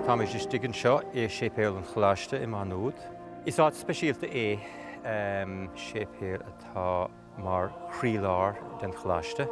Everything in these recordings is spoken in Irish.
Táimid istigh anseo i Séipéal an Choláiste i Maigh Nuad. Is áit speisialta é an séipéal atá mar chroílár den Choláiste.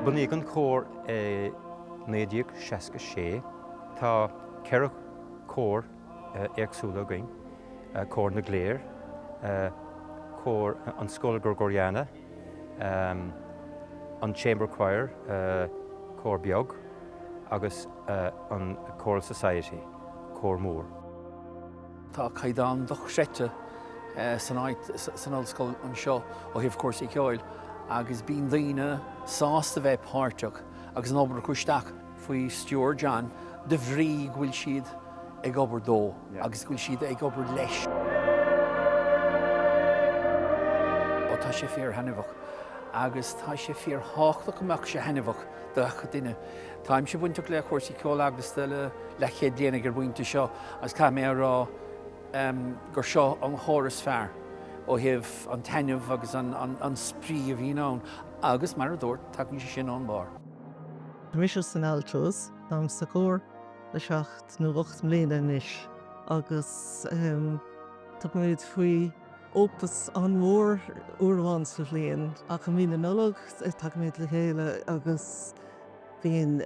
Bunaíodh an cór i 1966. Tá ceithre cór. éagsúla againn, cór na gcléireach, cór an scoil Gregoriana, an Chamber Choir, cór beag, agus an Choral Society, cór mór. Tá caighdeán dochreidte san ollscoil anseo ó thaobh cúrsaí ceoil agus bíonn daoine sásta bheith páirteach agus an obair a chur isteach. faoi stiúir John, de bhrí go bhfuil siad ag obair dó agus go bhfuil siad ag obair leis. Tá sé fíor-thaitneamhach agus tá sé fíor-thábhachtach go mbeadh sé taitneamhach do gach duine. Táimse bainteach le cúrsaí ceoil eaglasta le leathchéad bliain ag an bpointe seo agus caithfidh mé a rá gur seo an cór is fearr ó thaobh an taitneamh agus an spraoi a bhíonn ann agus, mar a dúirt, tagann sé sin ón mbarr. Canaimse sna Altos, táim sa chór le seacht nó ocht mbliana anois agus tugaimid faoi opus an-mhór uair amháin sa bhliain ach i mí na Nollag tagaimid le chéile agus bíonn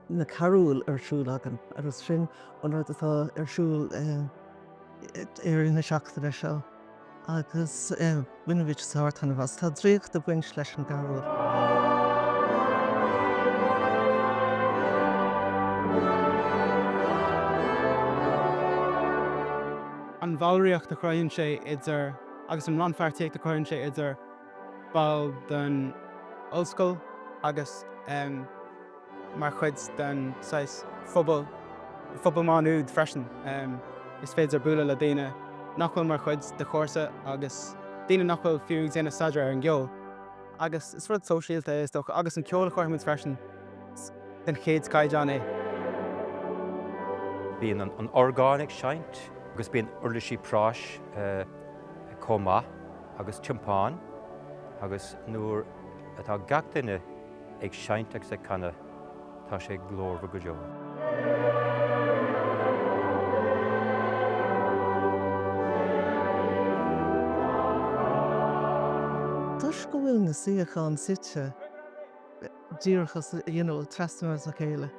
na carúil ar siúl againn agus sin an rud atá ar siúl i rith na seachtaine seo agus bainimid sár-taitneamh as. Tá draíocht ag baint leis an gcarúl. an bhallraíocht a chruthaíonn sé idir agus an rannpháirtíocht a chuireann sé idir baill den Ollscoil agus mar chuid den saghas pobal Mhaigh Nuad freisin. Is féidir bualadh le daoine nach bhfuil mar chuid de do chúrsa agus daoine nach bhfuil fiú ag déanamh staidéar ar an gceol. Agus is rud sóisialta é, is dócha, agus an ceol a chruthaímid freisin, den chéad chaighdeán é. Bíonn an orgán ag seinnt agus bíonn uirlisí práis chomh maith. agus tiompáin agus nuair atá gach duine ag seinnt agus ag canadh tá sé glórmhar go deo. Toisc go bhfuil na suíocháin suite díreach trasna óna chéile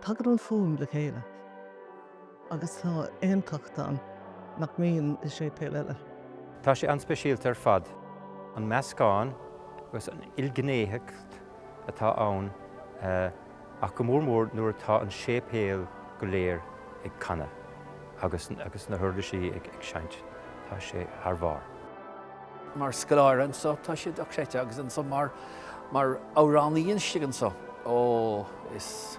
tagann an fhuaim le chéile. Agus tá aontacht ann nach mbíonn i séipéil eile. Tá sé an-speisialta ar fad, an meascán agus an ilghnéitheacht atá ann ach go mór mór nuair atá an séipéal go léir ag canadh agus na huirlisí ag seinnt. Tá sé thar bharr. Mar scoláire anseo tá sé dochreidte agus anseo mar amhránaí istigh anseo, ó, is.